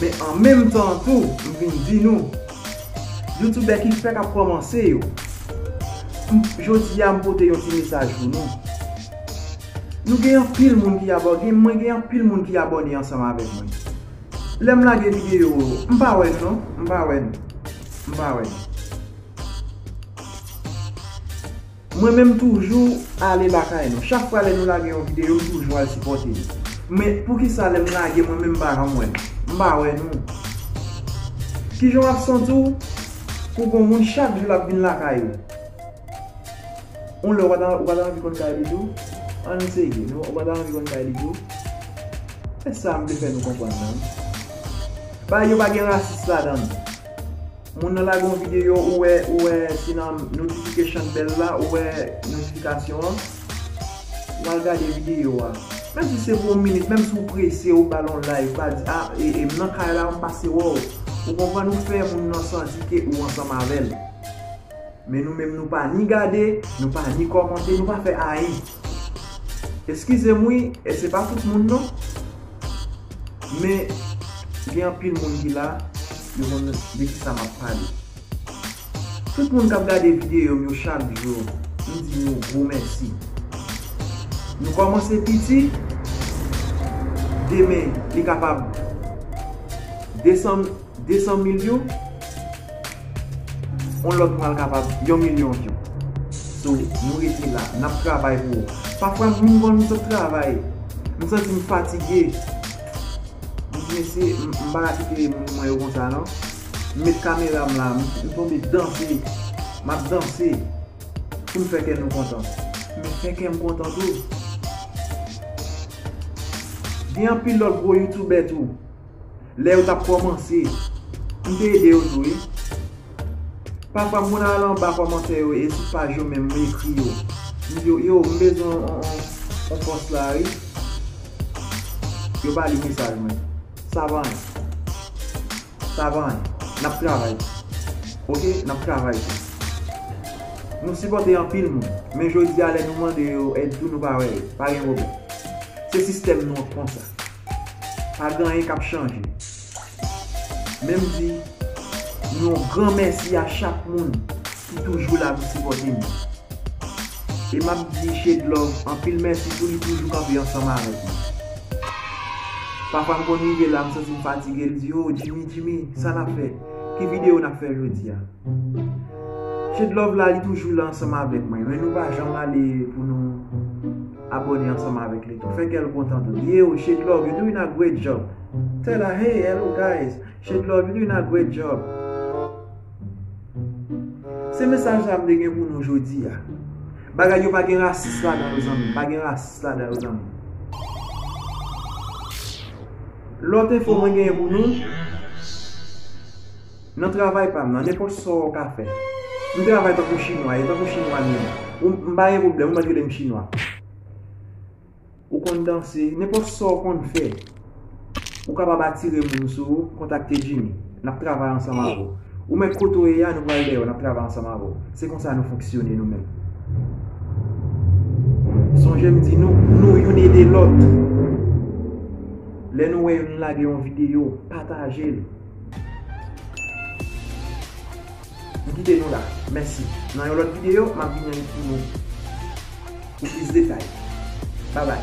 Men an menm tan an tou, m vin di nou, Youtubè ki fèk ap kòmanse yo, m, jodi a m pote yon ti mesaj pou nou. Nou gen anpil moun ki abò, gen, mwen gen anpil moun ki abòne ansanm avèk mwen. Lè m lage videyo yo, m pa wè nou non, m pa wè nou. M pa wè nou. Mwen menm toujou ale lakay nou. Chak fwa lè nou lage yon video m toujou al sipòte nou. Men poukisa lèm lage mwen menm m pa janm wè nou. M pa wè nou. Kijan wap santi w pou gon moun chak jou lap vin lakay ou. On lè ou pa ta ou pa ta anvi konn kay li tou? Ann serye nou ou pa ta anvi konn kay li tou? Se sa m vle fè nou konprann nan wi. Bagay yo pa gen rasis ladan l. Moun nan lage yon video ou wè ou wè ti nan notification bell la ou wè notification an ou al gade video a menm si se pou yon minit menm si ou prese ou bal yon like pa di ah m nan kay la m pase wè w ou konprann ou fè moun nan santi ke ou ansanm avèl. Men nou menm nou pa ni gade, nou pa ni kòmante, nou pa fè ayen. Eskize m wi, e se pa tout moun non. Men, gen anpil moun ki la, yo konn de kisa m ap pale. Tout moun k ap gade videyo m yo chak jou, m di nou gwo mèsi. Nou kòmanse piti, demen li kapab desann. 200 mil view on lot pral kapab yon milyon view so nou rete la nap travay pou ou pafwa m vin wè nou sot travay m santi m fatige m di mesye m pa ka kite moun mwen yo konsa nan m met kamera m la m tonbe danse map danse pou m fè kè nou kontan men fè kè m kontan tou gen anpil lot gwo youtubè tou. Lè yo tap kòmanse. M te ede yo tou wi. Pafwa m konn al anba kòmantè yo e sou paj yo menm m ekri yo. M di yo m bezwen yon pòs la wi. Yo pa li mesaj mwen. Sa pa anyen. Sa pa anyen. N ap travay tou. Ok n ap travay tou. Nou sipòte anpil moun. Men jodi a lè nou mande yo èd tou nou pa wè yo. Pa gen pwoblèm. Se sistèm nou an k konsa. Pa gen anyen kap chanje. Menm di yon gran mèsi a chak moun ki toujou la pou sipòte nou. E map di Shadlove anpil mèsi tou li toujou kanpe ansanm avèk nou. Pafwa m konn rive la m santi m fatige li di oh Jimmy Jimmy sa nap fè? Ki video nap fè jodia? Shadlove la li toujou la ansanm avèk mwen men nou pa janm ale pou nou Abone ansanm avek li tou. Fe kel kontan tou. Yeo shade love you doing a great job. Tell her hey hello guys shade love you doing a great job. Se mesaj la m te gen pou nou jodi a. Bagay yo pa gen rasis ladan yo zanmi m. Pa gen rasis ladan yo zanmi m. Lot enfo mwen genyen pou nou. Nan travay pam nan nenpòt sa w ka fè. M travay tankou chinwa e tankou chinwa m ye. M pa gen pwoblèm ou mèt rele m chinwa. Ou konn danse, nenpòt sa w konn fè. Ou kapab atire moun sou ou, kontakte Jimmy. N ap travay ansanm avè w. Ou mèt kote w ye a, nou pral dèyè w, n ap travay ansanm avè w. Se konsa nou fonksyone nou menm. Sonje m di nou, nou youn ede lòt. Lè nou wè youn lage yon videyo, pataje l. M kite nou la. Mèsi. Nan yon lòt videyo, m ap vini pou nou pou plis detay. Babay.